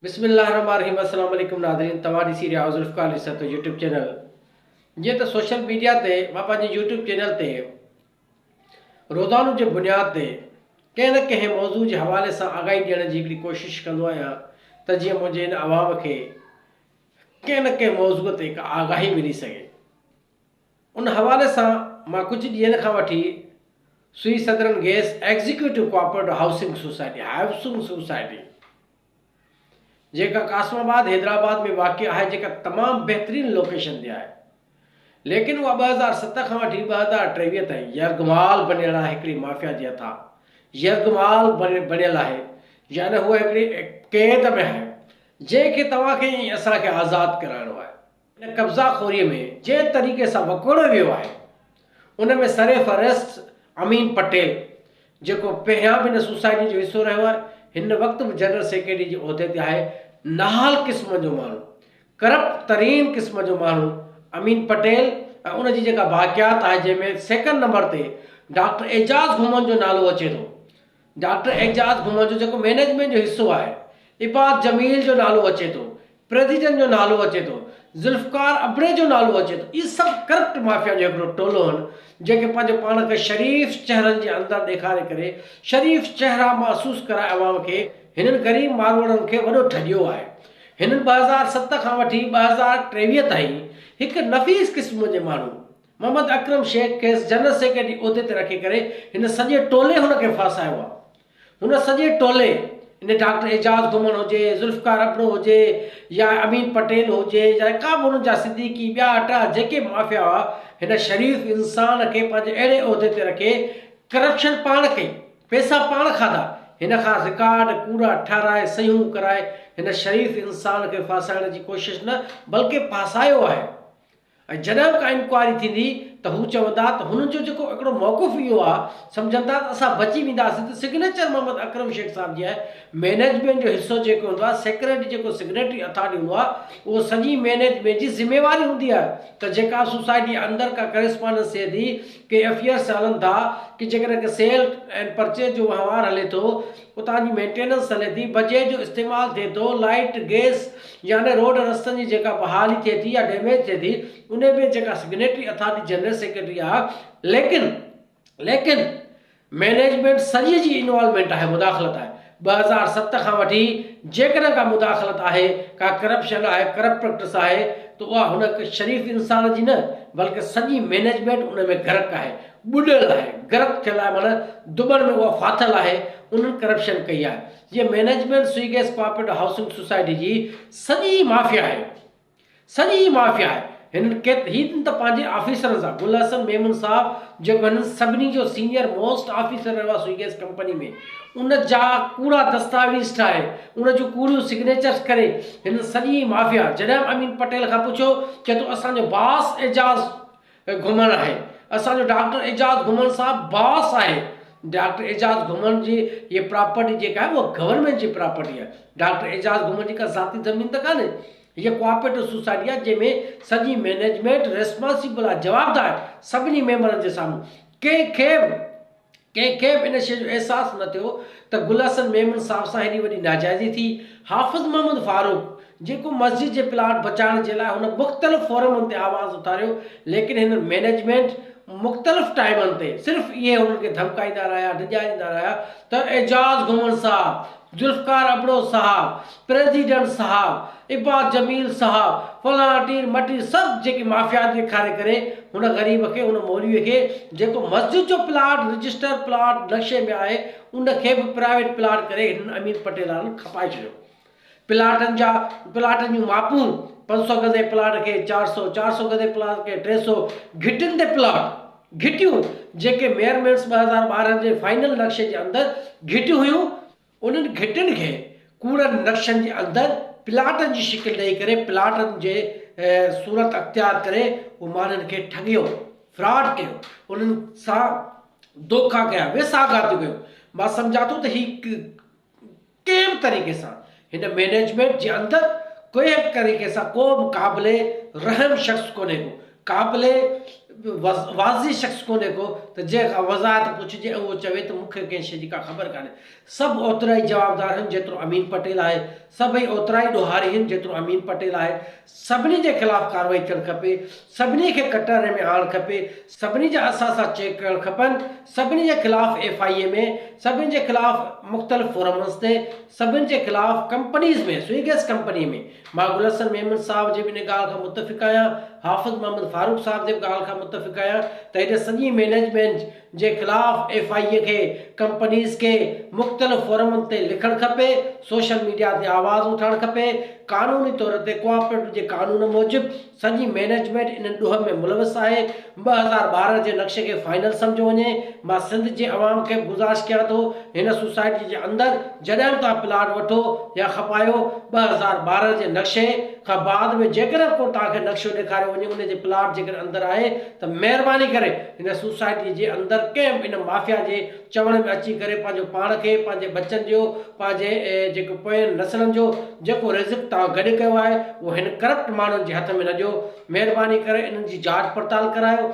بسم الله الرحمٰن الرحيم السلام عليڪم ناظرين توهان ڏسي رهيا آهيو ذوالفقار علي سرتو يوٽيوب چينل جيئن ته سوشل ميڊيا تي مان پنهنجي يوٽيوب چينل تي روزانو جي بنياد تي ڪنهن نه ڪنهن موضوع جي حوالي سان آگاهي ڏيڻ جي هڪڙي ڪوشش ڪندو آهيان ته جيئن منهنجي هن عوام کي ڪنهن نه ڪنهن موضوع تي هڪ آگاهي ملي سگهي ان حوالي سان مان ڪجهه ڏينهن کان وٺي Sui southern gas executive cooperative housing society housing society جيڪا قاسم آباد حيدرآباد ۾ واقع آهي جيڪا تمام بهترين لوڪيشن تي آهي ليڪن اها ٻه هزار ست کان وٺي ٻه هزار ٽيويهه تائين يرغمال بنيل آهي هڪڙي مافيا جي هٿان يرغمال بنيل آهي يعني هوء هڪڙي قيد ۾ آهي جنهن کي توهان کي ۽ اسان کي آزاد ڪرائڻو آهي. ان قبضا خوريء ۾ جنهن طريقي سان وڪوڙيو ويو آهي، ان ۾ سرفهرست امين پٽيل، جيڪو پهريان به ان سوسائٽيء جو حصو رهيو آهي، هن وقت به جنرل سيڪريٽريء جي عهدي تي آهي، نهال قسم جو ماڻهو، ڪرپٽ ترين قسم جو ماڻهو امين پٽيل ۽ ان جي جيڪا باقيات آهي، جنهن ۾ سيڪنڊ نمبر تي ڊاڪٽر اعجاز گهمڻ جو نالو اچي ٿو، ڊاڪٽر اعجاز گهمڻ جو جيڪو مئنيجمينٽ جو حصو آهي، عباد جميل جو نالو اچي ٿو، پريزيڊنٽ جو نالو اچي ٿو، ذوالفقار ابڙي جو نالو اچي ٿو، اهي سڀ ڪرپٽ مافيا جو هڪڙو ٽولو هن جيڪي پنهنجو پاڻ کي شريف چهرن جي اندر ڏيکاري ڪري شريف چهرا محسوس ڪرائي عوام کي هنن غريب ماروئڙن کي وڏو ٺڳيو آهي هنن ٻه هزار ست کان وٺي ٻه هزار ٽيويهه تائين هڪ نفيس قسم جي ماڻهو محمد اڪرم شيخ کيس جنرل سيڪريٽري عهدي تي رکي ڪري هن سڄي ٽولي هن کي ڦاسايو آهي. هن سڄي ٽولي ان ڊاڪٽر اعجاز گهمڻ هجي، ذوالفقار ابڙو هجي يا امين پٽيل هجي يا ڪا به هنن جا صديقي ٻيا ٽا جيڪي مافيا هئا هن شريف انسان کي پنهنجي اهڙي عهدي تي رکي ڪرپشن پاڻ ڪئي پيسا پاڻ کاڌا هن کان رڪارڊ ڪوڙا ٺهرائي صحيحون ڪرائي هن شريف انسان کي ڦاسائڻ جي ڪوشش نه بلڪه ڦاسايو آهي. ۽ جڏهن به ڪا انڪوائري ٿيندي ته هو چوندا ته هنن جو جيڪو هڪڙو موقف اهو آ سمجهن ٿا ته اسان بچي وينداسين ته سگنيچر محمد اڪرم شيخ صاحب جي آهي مينيجمينٽ جو حصو جيڪو هوندو آهي سيڪريٽري جيڪو سگنيٽري اٿارٽي هوندو آهي اهو سڄي مينيجمينٽ جي ذميواري هوندي آهي ته جيڪا سوسائٽي اندر ڪا ڪريسپانڊنس ٿئي ٿي ڪي افيئرس هلن ٿا ڪي جيڪڏهن ڪي سيل اينڊ پرچيز جو وهنوار هلي ٿو اتان جي مينٽيننس هلي ٿي، بجيء جو استعمال ٿئي ٿو، لائيٽ، گيس يعني روڊ رستن جي جيڪا بحالي ٿئي ٿي يا ڊيميج ٿئي ٿي انهي ۾ جيڪا سگنيٽري اٿارٽي جنرل سيڪريٽري آهي ليڪن ليڪن مينيجمينٽ سڄي جي انوالومينٽ آهي مداخلت آهي ٻه هزار ست کان وٺي جيڪڏهن ڪا مداخلت آهي ڪا ڪرپشن آهي ڪرپٽ پريڪٽس آهي ته اها هن شريف انسان جي نه بلڪه سڄي مينيجمينٽ ان ۾ غرق آهي ٻڏل آهي، غرق ٿيل آهي معنيٰ دٻڻ ۾ اها ڦاٿل آهي، انهن ڪرپشن ڪئي آهي، جيئن management Sui gas cooperative housing society جي سڄي مافيا آهي، سڄي مافيا آهي، هنن ڪيت هي ته پنهنجي آفيسرن سان گل حسن ميمڻ صاحب جيڪو هنن سڀني جو سينئر موسٽ آفيسر رهيو آهي سوئي گيس ڪمپني ۾ ان جا ڪوڙا دستاويز ٺاهي، ان جون ڪوڙيون سگنيچرس ڪري، هنن سڄي مافيا جڏهن به امين پٽيل کان پڇيو چئي ٿو اسان جو باس اعجاز گهمڻ آهي. اسان جو ڊاڪٽر اعجاز گهمڻ سان باس آهي. ڊاڪٽر اعجاز گهمڻ جي هيء پراپرٽي جيڪا آهي اها گورنمينٽ جي پراپرٽي آهي. ڊاڪٽر اعجاز گهمڻ جي ڪا ذاتي زمين ته ڪانهي. هيء ڪوآپريٽو سوسائٽي آهي جنهن ۾ سڄي مئنيجمينٽ ريسپانسيبل آهي، جوابدار آهي سڀني ميمبرن جي سامهون. ڪنهن کي به. ڪنهن کي به ان شيء جو احساس نه ٿيو ته گل حسن ميمڻ صاحب سان هيڏي وڏي ناجائزي ٿي. حافظ محمد فاروق، جيڪو مسجد جي پلاٽ بچائڻ جي لاء هن مختلف فورمن تي آواز اٿاريو، ليڪن هن مئنيجمينٽ مختلف ٽائيمن تي صرف اهي هنن کي ڌمڪائيندا رهيا، ڊڄاريندا رهيا ته اعجاز گهمڻ صاحب، ذوالفقار ابڙو صاحب، پريزيڊنٽ صاحب، عباس جميل صاحب، فلاڻ ٽير مٽير سڀ جيڪي مافيات ڏيکاري ڪري هن غريب کي هن مولويء کي جيڪو مسجد جو پلاٽ رجسٽر پلاٽ نقشي ۾ آهي ان کي به پرائيويٽ پلاٽ ڪري هنن امير پٽيلارن کپائي ڇڏيو. پلاٽن جا پلاٽن جون ماپون پنج سؤ گز جي پلاٽ کي چار سؤ چار سؤ گز جي پلاٽ کي ٽي سؤ گهٽين تي پلاٽ. گهٽيون جيڪي ميئر مينس ٻه هزار ٻارهن جي فائنل نقشي جي اندر گهٽيون هيون، انهن گهٽين کي ڪوڙن نقشن جي اندر پلاٽن جي شڪل ڏئي ڪري پلاٽن جي صورت اختيار ڪري هو ماڻهن کي ٺڳيو، فراڊ ڪيو، انهن سان دوکا ڪيا، ويساهه گهاتيون ڪيون. مان سمجهان ٿو ته هي ڪنهن به طريقي سان هن مينيجمينٽ جي اندر ڪنهن به طريقي سان ڪو به قابل رحم شخص ڪونهي ڪو قابل واضح شخص ڪونهي ڪو ته جنهن کان وضاحت پڇجي ۽ اهو چوي ته مون کي ڪنهن شي جي ڪا خبر ڪانهي سڀ اوترائي جوابدار هن جيترو امين پٽيل آهي سڀئي اوترائي ڏوهاري هن جيترو امين پٽيل آهي سڀني جي خلاف ڪارروائي ٿيڻ کپي، سڀني کي ڪٽهڙي ۾ آڻڻ کپي، سڀني جا اثاثا چيڪ ڪرڻ کپن، سڀني جي خلاف ايف آء اي ۾، سڀني جي خلاف مختلف فورمز تي، سڀني جي خلاف ڪمپنيز ۾، سوئي گئس ڪمپني ۾، مان گل حسن ميمڻ صاحب جي به ان ڳالهه کان متفق آهيان، حافظ محمد فاروق صاحب جي به ڳالهه کان متفق آهيان ته هيڏي سڄي مئنيجمينٽ، جي خلاف ايف آء اي کي ڪمپنيز کي مختلف فورمن تي لکڻ کپي، سوشل ميڊيا تي آواز اٿارڻ کپي، قانوني طور تي ڪوآپريٽو جي قانون موجب سڄي مينيجمينٽ ان ڏوهه ۾ ملوث آهي، ٻه هزار ٻارهن جي نقشي کي فائنل سمجهيو وڃي، مان سنڌ جي عوام کي به گذارش ڪيان ٿو هن سوسائٽي جي اندر جڏهن به توهان پلاٽ وٺو يا کپايو ٻه هزار ٻارهن جي نقشي کان بعد ۾ جيڪڏهن ڪو توهان کي نقشو ڏيکاريو وڃي ان جي پلاٽ جيڪڏهن اندر آهي ته مهرباني ڪري هن سوسائٽيء جي اندر ڪنهن به ان مافيا جي چوڻ ۾ اچي ڪري پنهنجو پاڻ کي، پنهنجي ٻچن جو، پنهنجي جيڪي پوين نسلن جو جيڪو رزق توهان گڏ ڪيو آهي، اهو هن ڪرپٽ ماڻهن جي هٿ ۾ نه ڏيو. مهرباني ڪري انهن جي جاچ پڙتال ڪرايو.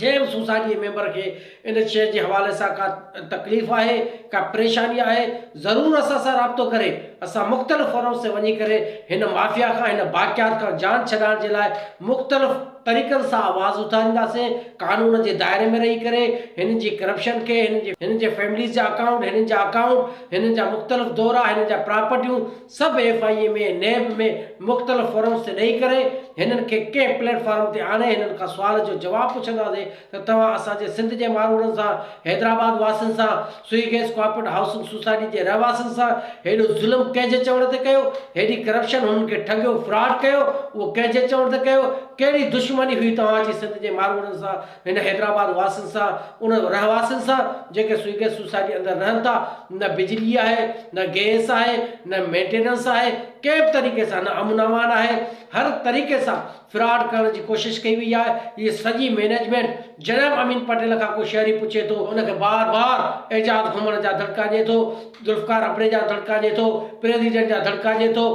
جنهن به سوسائٽيء جي ميمبر کي. ان شيء جي حوالي سان ڪا تڪليف آهي، ڪا پريشاني آهي، ضرور اسان سان رابطو ڪري. اسان مختلف فورمز تي وڃي ڪري هن مافيا کان، هن باقيات کان جان ڇڏائڻ جي لاء مختلف طريقن سان آواز اٿارينداسين، قانون جي دائري ۾ رهي ڪري هنن جي ڪرپشن کي، هنن جي فيمليز جا اڪائونٽ، هنن جا اڪائونٽ، هنن جا مختلف دورا، هنن جا پراپرٽيون سڀ ايف آء اي ۾، نيب ۾ مختلف فورمز تي ڏئي ڪري هنن کي ڪنهن پليٽ فارم تي آڻي هنن کان سوال جو جواب پڇنداسين، ته توهان اسان جي سنڌ جي ماروئڙن سان، حيدرآباد واسين سان، Sui gas corporate housing society جي رهواسين سان هيڏو ظلم ڪنهن جي چوڻ تي ڪيو؟ هيڏي ڪرپشن هنن کي ٺڳيو، فراڊ ڪيو، اهو ڪنهن جي چوڻ تي ڪيو؟ ڪهڙي دشمني هئي توهان جي سنڌ جي ماروئڙن سان، هن حيدرآباد واسين سان، انهن رهواسين سان جيڪي سوئي گيس سوسائٽي اندر رهن ٿا؟ نه بجلي آهي، نه گيس آهي، نه مينٽيننس آهي، ڪنهن به طريقي سان نه امن امان آهي، هر طريقي سان فراڊ ڪرڻ جي ڪوشش ڪئي وئي آهي هي سڄي مينيجمينٽ جناب امين پٽيل کان ڪو شهري پڇي ٿو ان کي بار بار اعجاز گهمڻ جا دڙڪا ڏي ٿو ذوالفقار ابڙي جا دڙڪا ڏي ٿو پريزيڊنٽ جا دڙڪا ڏي ٿو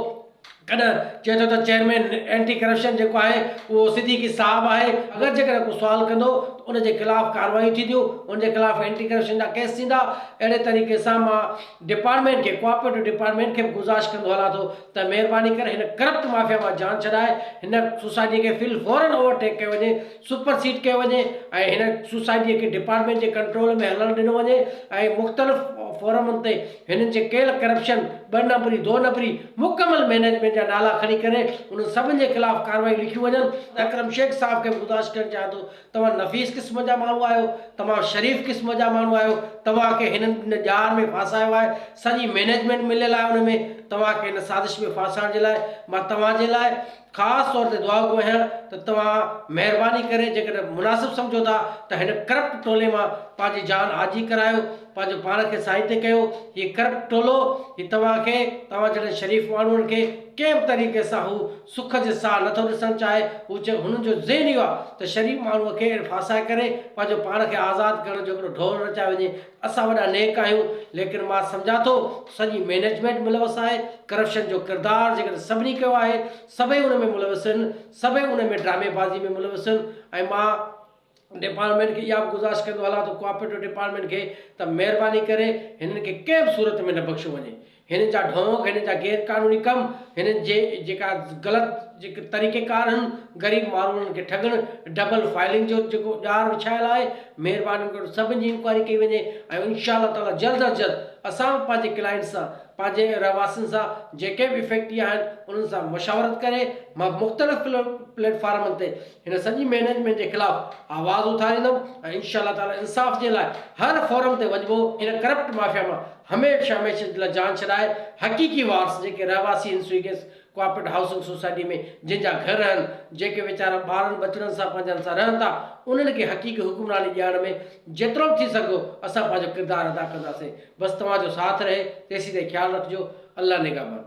ڪڏهن چئي ٿو ته چيئرمين اينٽي ڪرپشن جيڪو آهي اهو صديقي صاحب آهي اگر جيڪڏهن ڪو سوال ڪندو ته ان جي خلاف ڪاروايون ٿينديون ان جي خلاف اينٽي ڪرپشن جا ڪيس ٿيندا اهڙي طريقي سان مان ڊپارٽمينٽ کي ڪوآپريٽو ڊپارٽمينٽ کي به گذارش ڪندو هلان ٿو ته مهرباني ڪري هن ڪرپٽ مافيا مان جان ڇڏائي هن سوسائٽي کي في الفورن اوور ٽيڪ ڪيو وڃي، سپر سيڊ ڪيو وڃي ۽ هن سوسائٽي کي ڊپارٽمينٽ جي ڪنٽرول ۾ هلڻ ڏنو وڃي ۽ مختلف فورمن تي هنن جي ڪيل ڪرپشن، ٻه نمبري، دو نمبري، مڪمل مينيجمينٽ جا نالا کڻي ڪري انهن سڀن جي خلاف ڪارروائيون لکيون وڃن. اڪرم شيخ صاحب کي به گذارش ڪرڻ چاهيان ٿو توهان نفيس قسم جا ماڻهو آهيو، تمام شريف قسم جا ماڻهو آهيو، توهان کي هنن ان ڄار ۾ ڦاسايو آهي، سڄي مئنيجمينٽ مليل آهي ان ۾، توهان کي هن سازش ۾ ڦاسائڻ جي لاء مان توهان جي لاء خاص طور تي دعاگو آهيان ته توهان مهرباني ڪري جيڪڏهن مناسب سمجهو ٿا ته هن ڪرپٽ ٽولي مان پنهنجي جان آجي ڪرايو، پنهنجو پاڻ کي سائتي ڪيو، هي ڪرپٽ ٽولو هي توهان کي توهان جهڙن شريف ماڻهن کي ڪنهن به طريقي سان هو سک جي ساهه نه ٿو ڏسڻ چاهي. هو چيو، هنن جو ذهن اهو آهي ته شريف ماڻهوء کي اهڙي ڦاسائي ڪري پنهنجو پاڻ کي آزاد ڪرڻ جو هڪڙو ڍول رچايو وڃي. اسان وڏا نيڪ آهيون، ليڪن مان سمجهان ٿو ته سڄي مئنيجمينٽ ملوث آهي. ڪرپشن جو ڪردار جيڪڏهن سڀني ڪيو آهي، سڀئي ان ۾ ملوث آهن، سڀئي ان ۾ ڊرامي بازيء ۾ ملوث آهن ۽ مان ڊپارٽمينٽ کي اها به گذارش ڪندو هلان ته ڪوآپريٽو ڊپارٽمينٽ کي ته مهرباني ڪري هنن کي ڪنهن به صورت ۾ نه بخشيو وڃي. هنن جا ڍونگ، هنن جا غير قانوني ڪم، هنن جي جيڪا غلط جيڪي طريقه ڪار هن غريب ماروئڙن کي ٺڳڻ، ڊبل فائلنگ جو جيڪو ڄار وڇايل آهي، مهرباني ڪري سڀن جي انڪوائري ڪئي وڃي ۽ انشاء الله تعاليٰ جلد از جلد اسان به پنهنجي ڪلائنٽس سان، پنهنجي رهواسين سان جيڪي به افيڪٽي آهن انهن سان مشاورت ڪري مختلف پليٽ فارمن تي هن سڄي مئنيجمينٽ جي خلاف آواز اٿاريندم ۽ انشاء الله تعالي انصاف جي لاء هر فورم تي وڃبو، هن ڪرپٽ مافيا مان هميشھ هميشه جي لاء جان ڇڏائي حقيقي وارث جيڪي رهواسي هن سوئيگيس ڪوآپريٽ هائوسنگ سوسائٽي ۾ جن جا گهر آهن جيڪي ويچارا ٻارن ٻچڙن سان پنهنجن سان رهن ٿا انهن کي حقيقي حڪمراني ڏيارڻ ۾ جيترو به ٿي سگهندو اسان پنهنجو ڪردار ادا ڪنداسين بس توهان جو ساٿ رهي تيسين تائين خيال رکجو الله نگهبان.